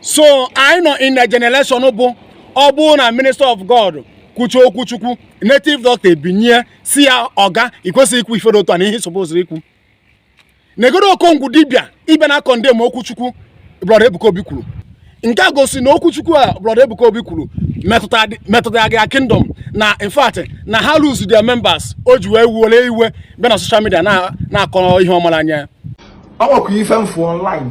so anyị nọ in a generation bụ ọ bụrụ na minister of god kwucha okwu chukwu native doctor ebinie sị ya oga i kwesịghị ikwu ife dị otu a nee ihe i sopoziri ikwu negodu okongwu dibia ị bịa na-acondemn okwu chukwu brọda ebuka obi kwuru nke a gosi na okwu chukwu a brọda ebuka obi kwuru metụtara gị kingdom na in fact na ha lose their members o ji wee wee iwe bịa na social media na-akọ ihe ọ mara anya ọ nwekwa ife m fụ online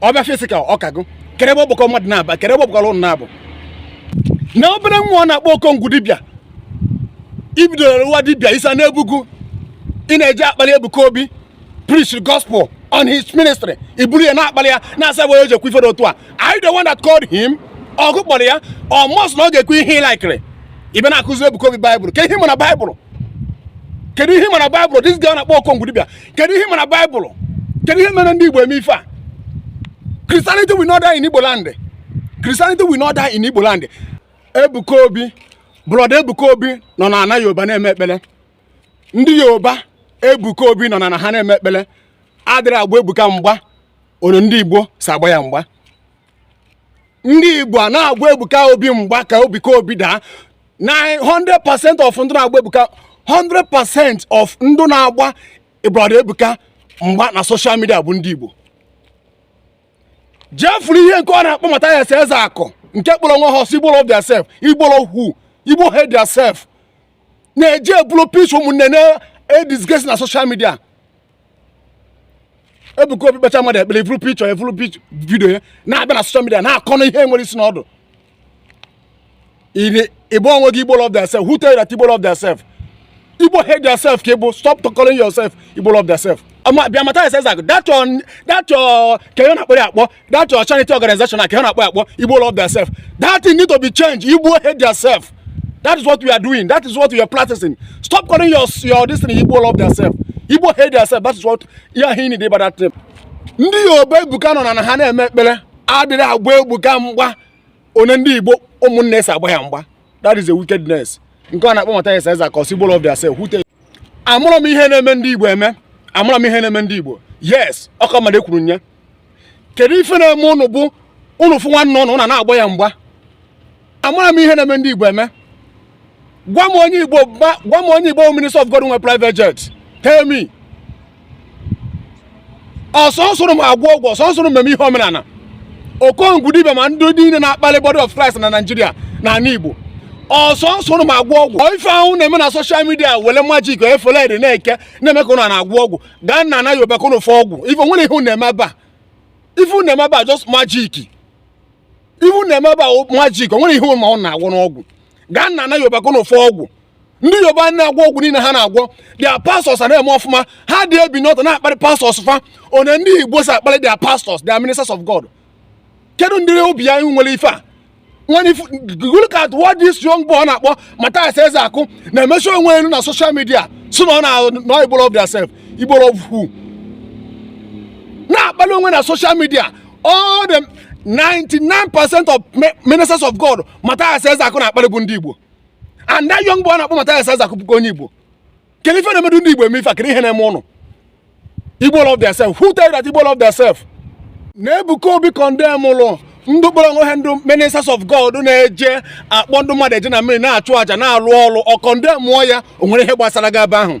ọ bịa physical ọkago kere ebe ọgbakọ mmadụ na-aba kere ebe ọ gbakọrọ ụnụ na-abụ na obere nwa ọ na-akpọ okongwu dibịa i bidoro nwa dibịa isa n'ebugu ị na-eji akpali ebuka obi preach the gospel on his ministry i buru ya na-akpali ya na-asị why o ji ekwu ife dị otu a are you the one that called him ọ gị kpọrọ ya ọ must na ọ ga-ekwu ihe ị laikiri ị bịa na-akụzi ebuka obi baịbụl kee ihe ị ma na baịbụl kedu ihe ị ma na baịbụl this guy na-akpọ okongwu dibịa kedu ihe ị ma na baịbụl kedu ihe na-eme ndị igbo eme ife a christianity will not die in igbo land christianity will not die in igbo land ebuka obi brọda ebuka obi nọ na ana yoruba na-eme ekpere ndị yoruba ebuka obi nọ na ana ha na-eme ekpere adịrọ agba ebuka mgba only ndị igbo so agba ya mgba ndị igbo na-agba ebuka obi mgba ka ebuka obi daa na 100% of ndị na-agba ebuka 100% of ndị na-agba brọda ebuka mgba na social media bụ ndị igbo jee fụrụ ihe nke ọ na-akpọ mathias ezeaku nke kpọrọ onwe ha ọ sị igbo love their self igbo love igbo hate their self na-eji ebulu pics ụmụnne na-edisgrace na social media Ebuka Obi kpecha mmadụ ekpere i buru picture i buru video ya na-abịa na social media na-akọ na ihe enwerọ isi na ọdụ ị ba onwe gị igbo love theirself who tell you that igbo love theirself igbo hate theirself ka ị bụ stop calling yourself igbo love theirself bịa mathias that your that your kee ihe a na-akpọ ya akpọ that your charity organization aka ha na-akpọ akpọ igbo love theirself that thing need to be changed igbo hate theirself that is what we are doing that is what we are practicing stop calling your your this thing igbo love theirself igbo hate theirself that is what ihe ahụ ị na-ede about that thing ndị yoruba ebuka nọ na ana ha na-eme ekpere adịrọ agba ebuka mgba only ndị igbo ụmụnne ya so agba ya mgba that is a wickedness nke ọ na-akpọ mathias ezeaku ọ sị igbo love their self wute amarọ m ihe na-eme ndị igbo eme amarọ m ihe na-eme ndị igbo yes ọ ka mma e kwuru ya kedu ife na-eme ụnụ bụ ụnụ fụ nwanne ụnụ a na-agba ya mgba amarọ m ihe na-eme ndị Igbo eme gwa m onye Igbo gwa m onye Igbo minister of God nwe private jet tell me ọ sọsọ ụnụ ma agwọ ọgwụ ọ sọsọ ụnụ ma eme ihe omenala okongwu dibia ma ndị niile na-akpali body of Christ na Naịjirịa na ala Igbo ọ sọsọ ụnụ ma agwọ ọgwụ ife ụnụ na-eme na social media wele magic efele na-eke na-eme ka ụnụ na-agwọ ọgwụ gaa na ana yoruba ka unu fụ ọgwụ o nwere ihe unu eme ebe a ife unu eme ebe a just magic ife unu eme ebe a magic o nwere ihe unu na-agwọ n'ọgwụ gaa na ana yoruba ka unu fụ ọgwụ ndị yoruba na-agwọ ọgwụ niile ha na-agwọ their pastors a na-eme ọfụma ha adị ebini ọtọ na-akparị pastors fa one ndị igbo si akparị their pastors their ministers of god kedu ụdịrị obi anyị nwere ife a when I look at what this young boy na-akpọ Matthias Ezeaku na-emechi onwe elu na social media sị na ọ na Igbo love theirself Igbo love who na-akpalị onwe na social media all the 99 percent of ministers of God Matthias Ezeaku na-akpalị bụ ndị Igbo and that young boy na-akpọ Matthias Ezeaku bụkwa onye Igbo kedu ife na-emedu ndị igbo eme ife a kedu ihe na-eme unu igbo love theirself who tell you that igbo love theirself na ebuka obi condemnụlụ ndị kpọrọ onwe ha ndị ministers of god na-eje akpọ ndị mmadụ eje na mmiri na-achụ àjà na-alụ ọrụ ọ condemnụọ ya o nwere ihe gbasara gị ebe ahụ